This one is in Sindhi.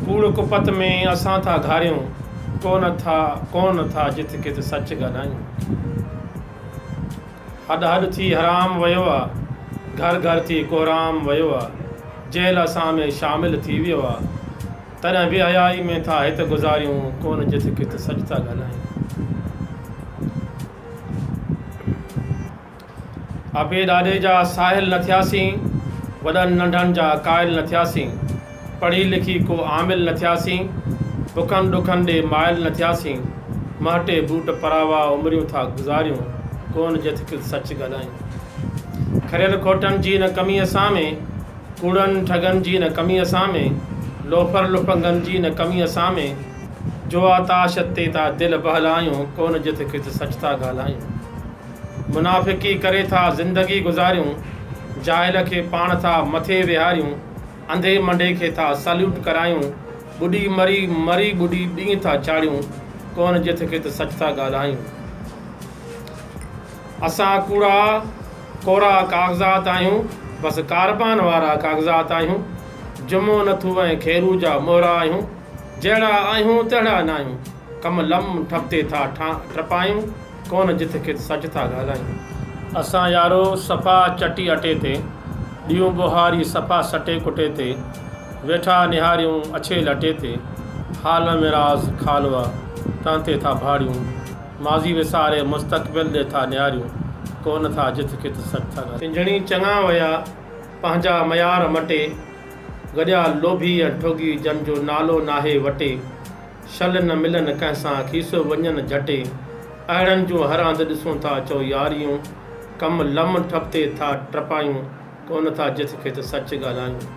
ڪوڙ ڪپت ۾ اسان ٿا گهاريون، ڪونه ٿا ڪونه ٿا جت ڪت سچ ڳالهايون. هڏ هڏ ٿي حرام ويو آ، گهر گهر ٿي ڪورام ويو آ، جهل اسان ۾ شامل ٿي ويو آ، تڏهن بي حيائي ۾ ٿا هت گذاريون، ڪونه جت ڪت سچ ٿا ڳالهايون. ابي ڏاڏي جا ساحل نه ٿياسين، وڏن ننڍن جا قائل نه ٿياسين، پڙهي لکي ڪو عامل نه ٿياسين، بکن ڏکن ڏي مائل نه ٿياسين، مهٽي بوٽ پراوا عمريون ٿا گذاريون، ڪون جٿڪ سچ ڳالهايون. کريل کوٽن جي نه ڪمي اسان ۾، ڪوڙن ٺڳن جي نه ڪمي اسان ۾، لوفر لڦنگن جي نه ڪمي اسان ۾، جوا تاش تي ٿا دل بهلايون، ڪون جٿڪ سچ ٿا ڳالهايون. منافقي ڪري ٿا زندگي گذاريون، جاهل کي پاڻ ٿا مٿي ويهاريون، انڌي منڍي کي ٿا سليوٽ ڪرايون، ٻڏي مري مري ٻڏي ڏينهن ٿا چاڙهيون، ڪونه جٿ ڪٿ سچ ٿا ڳالهايون. اسان ڪوڙا ڪورا ڪاغذات آهيون، بس ڪاربان وارا ڪاغذات آهيون، جمعو نٿو ۽ خيرو جا مهرا آهيون، جهڙا آهيون تهڙا ناهيون، ڪم لم ٺپ تي ٿا ٽپايون ڪونه جت کت سچ ٿا ڳالهايون. اسان يارو صفا چٽي اٽي تي ڏيون ٻوهاري صفا سٽي ڪٽي تي ويٺا نهاريون اڇي لٽي تي حال ۾ راز خالوء تن تي ٿا ڀاڙيون ماضي وساري مستقبل ڏي ٿا نهاريون ڪونه ٿا جت کت سچ ٿا ڳالهايون. پنجڻي چڱا ويا پنهنجا ميار مٽي گڏيا لوڀي ۽ ٺڳي جن جو نالو ناهي وٽي. شل نه ملن ڪنهن سان کيسو وڃن جهٽي اهڙن جون هر هنڌ ڏسون ٿا چئو ياريون ڪم لم ٺپ تي ٿا ٽپايون ڪونه ٿا جٿ کيٿ سچ ڳالهايون.